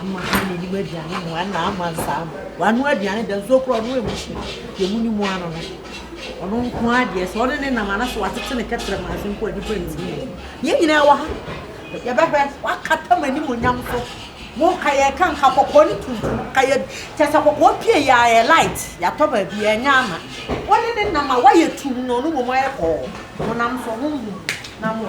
Ama ha na nim aduane mu ana ama nsaa mu. Wano aduane da nsuo kora ɔno emu hye. Yɛmu ne mu ano no. Ɔno nko adeɛ sɛ ɔne ne nam anaso wasete ne kɛtrɛ manse mpo a nipa ntimi yɛ. Yɛn nyinaa wɔ ha. Yɛbɛhwɛ wakata mo anim onyam so. Mo nka yɛ ka nka kɔkɔɔ ne tuntum. Ka yɛ kyɛ sɛ kɔkɔɔ pie yɛ ayɛ light. Yɛatɔ baabi yɛn nyɛ ama. Ɔne ne nam a wayɛ tum na ɔno mmom ayɛ kɔɔ. Mo nam so ho hu na mo.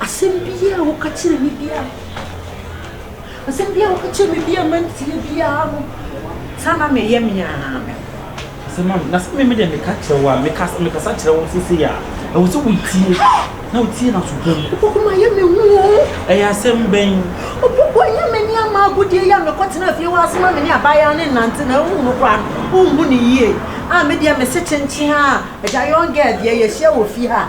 Asɛm biara a woka kyerɛ me biara, asɛm biara a woka kyerɛ me biara mantie biara no, saa na meyɛ me ara me. Sɛ ma na sɛ me deɛ meka kyerɛ wo a mekasa mekasa kyerɛ wo sese a ɛwɔ sɛ wotie na wotie na so pa mu. Opoku ma yɛ me hu o. Ɛyɛ asɛm bɛn? Opoku ɛnyɛ me ne ama agodie yɛ a mekɔ tena fie wɔ asoma me ne abaayewa ne nante na wohu no koraa no wohu ne yie a me deɛ mese kyenkyen a ɛda young girl deɛ yɛhyia wɔ fie ha.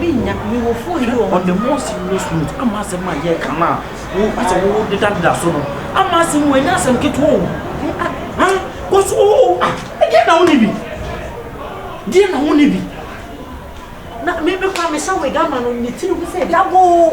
Minnya, me wɔ fo yi o. On the more serious note, ama asɛm a yɛreka no a wo asɛ wo dedadeda so no, ama asɛm wɔ ɛnyɛ asɛm ketewa o. Ah ah, kɔ so o ah, ɛdeɛ na wo ni bi? Deɛ na wo ni bi? Na me me kora me sa wig ama no ne tiri ho sɛ dabo o.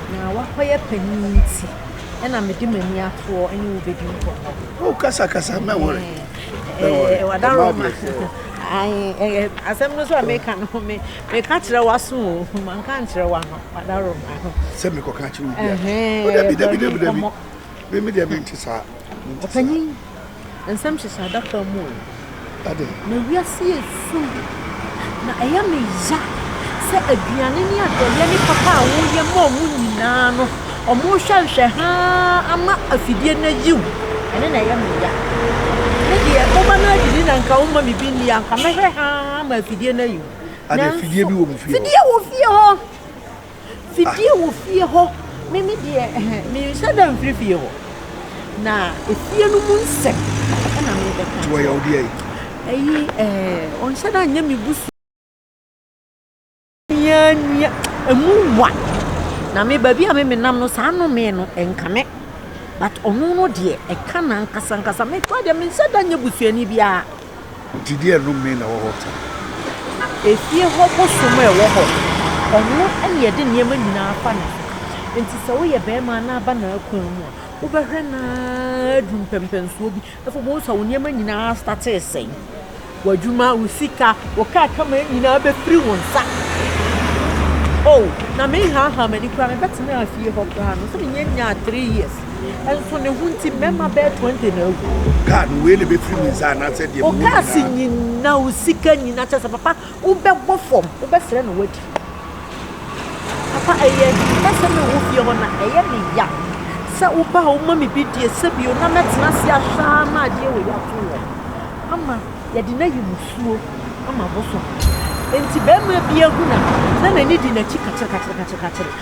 Na w'akɔyɛ panyin nti na me de m'ani atoɔ ne wo bɛdi nkɔmmɔ. Oh, kasa kasa, mɛ wɔre. Ɛɛ, wadaroma. Ayi, asɛm no so a meka no, me meka kyerɛ w'aso o, manka nkyerɛ w'ano, wadaroma. Sɛ mekɔka kyerɛ obi a, o dabi dabi dabi dabi, me me deɛ mente saa, mente saa. Nsɛm hyehyɛ adaka mu o. Ade. Na wiase yɛ sum. Na ɛyɛ me ya sɛ aduane ne adɔeɛ ne papa a woyɛ ma ɔmo nyinaa no, ɔmo hwɛ nhwɛ haa ama afidie no ayi wo. Ɛno na ɛyɛ me ya. Me deɛ woba no adidi na nka woma me bi nni a, nka mɛhwɛ haa ma afidie no ayi wo. Ade afidie bi wɔ mo fie hɔ? Fidie wɔ fie hɔ. Fidie wɔ fie hɔ me me deɛ ɛhɛ menhyɛ da mfiri fie hɔ na efie no mu nsɛm ɛna me bɛka nti wɔyɛ ɔdeɛ yi ɛyi ɛɛ ɔnhyɛ da nyɛ me busu nua nua emu wa na me baabi a me menam no saa no me no ɛnka me but ɔno no deɛ ɛka na nkasa nkasa me kora deɛ menhyɛ da nyɛ busuani biara Gyidie a ɛnnom mee na ɛwɔ hɔ ta. Efie hɔ bosom a ɛwɔ hɔ. Ɔno na yɛde nneɛma nyinaa fa ne ho. Enti sɛ woyɛ barima a na aba n'akwan mu a, wobɛhwɛ no ara aduru mpɛmpɛnsoɔ bi. Afei wobɛhu sɛ wo nneɛma nyinaa astate resɛe. W'adwuma, wo sika, wo kaa kama nyinaa bɛfiri wo nsa. Oh, na menhaahaa m'ani koraa. Mebɛtenaa fie hɔ koraa no, sɛ mennya nyaa three years. Nso ne ho nti mmarima bɛyɛ 20 na awu. Kaa no wei na ɛbɛfiri me nsa anaasɛ deɛ mewɔ nyinaa. Ɔkaase nyina o sika nyina kyɛ sɛ papa wobɛbɔ fam wobɛsrɛ no wadi. Papa ɛyɛ mɛsɛ me wɔ fie hɔ na ɛyɛ me ya sɛ woba a woma me bi die sɛ bio na mɛtena ase ahwɛ ara ma adeɛ wei ato wɔ ama yɛde no ayi musuo ama bosom. Nti bɛrima bi ahuna na n'ani di n'akyi kakyere kakyere kakyere kakyere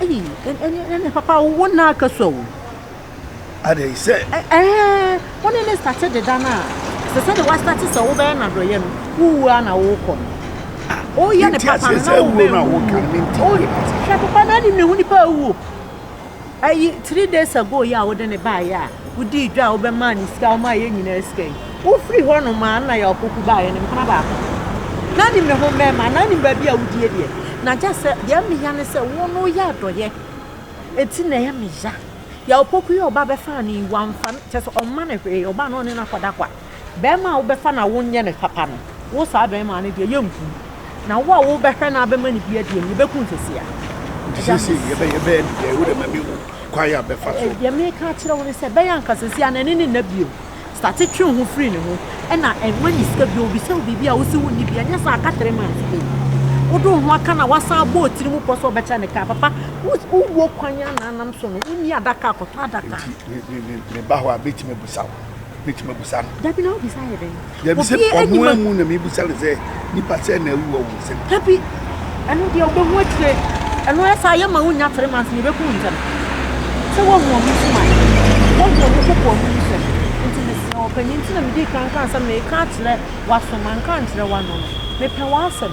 Eii ɛne ɛne papa wo na aka so o. Ada yi sɛ. Ɛɛ wɔn ne ne sate deda no a sɛ sɛdeɛ wasate sɛ wobɛyɛ no adɔyɛ no wowu a na wokɔ no. Woyɛ ne papa no na wobɛwu. Hwɛ papa na anim na ehu nipa awu o. Ɛyi three days ago yi a wode ne baeɛ a wodii dwa a wobɛmaa ne sika a womaa yɛn nyinaa sika yi wofiri hɔ nom a na yɛ ɔkoko baeɛ no mpena baako na nim ne ho mmarima anaa nim baabi a wodie deɛ na gya sɛ deɛ meya ne sɛ wo no yɛ adɔyɛ ɛti na ɛyɛ meya yɛ ɔkoko yi ɔba bɛfaa ne wamfa kyɛ sɛ ɔma ne hwee ɔba no ɔne no akɔda kwa Bɛrima a wobɛfa no a wonyɛ no papa no, wo saa bɛrima no deɛ, yɛnku no. Na wo a wobɛhwɛ no abɛma no bi adie no, yɛbɛku no seesei ara. Nti seesei yɛbɛyɛ no dɛn? Wo deɛ ma menhu kwan a bɛfa so. Deɛ mereka akyerɛ wo ne sɛ, bɛyɛ anka seesei ara no, ɛne no nna bio. Starte twe wo ho firi ne ho. Ɛna mma ne sika bio. Ɔbisa wo biribi a, wose wonni bi. Ɛnyɛ saa, ka three months nie. Wode wo ho aka no a, woasan abɔ wo tiri mu pɔ sɛ wobɛkyɛ no kaa. Papa, wowɔ kwan a na nam so no, wonni adaka a, kɔtɔ adaka. Nti me ba hɔ a, mɛtumi abusa wo? mɛtumi abusa no. Dabi na wobisa yɛ dɛn? Dabi sɛ ɔmo amu na mebisa no sɛ nipa sɛ na awu wɔ wo nsam. Dabi ɛno deɛ wobɛhu akyire ɛno ayɛ saa yɛma wo nya three months na ɛbɛku wo ntɛm sɛ woahu ɔmo nsɛm a woahu ɔmo koko ɔmo nsɛm nti mesrɛ ɔpanyin nti na medi kan ka asɛm na ɛka akyerɛ waso manka nkyerɛ wano no mepɛ w'asɛm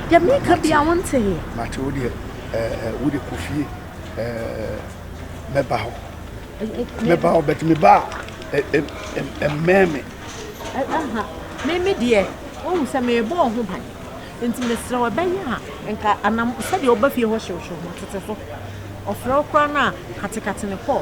Deɛ mereka bia wonteeɛ. Mate wo deɛ eh, wode kɔ fie eh, mɛba hɔ mɛba hɔ but meba a ɛmmɛn me meme deɛ wohu sɛ merebɔ ho ban nti mesrɛ ɛbɛyɛ a nka anam sɛdeɛ woba fie hɔ hyewhyew ho tete so ɔfrɛ wo koraa no a katekate ne kɔɔ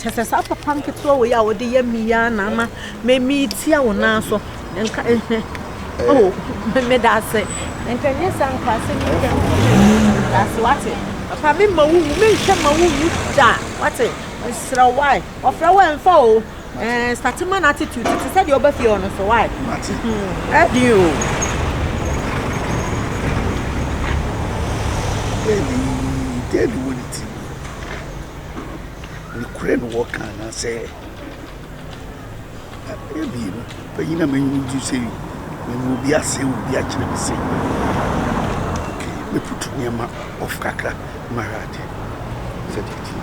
Kyɛ sɛ saa papa nketewa wei a wɔde yɛ me yi ara na ama metia wo nan so. Nka ɛhwɛ. Eh. Oh, meda ase. Nka nyɛ saa nka ase ne nka meda ase wate. Papa me ma wo wu, me nhwɛ ma wo wu da wate. Mesrɛ wae. Ɔfrɛ wo ɛmfa o. Eh, start man attitude te sɛ deɛ ɔba fie ɔno so wae. Mate. Ɛdi hmm, o. Ɛdi, ɛdi wɔ ne ti. Nokorɛ na wɔka anaasɛ ɛyɛ mmienu? Panyin a m'ani gye sɛ mehu obi ase wɔ obi akyerɛ me sei. Okay, mɛputu nneɛma off kakra na mahwɛ ade sɛdeɛ ɛteɛ.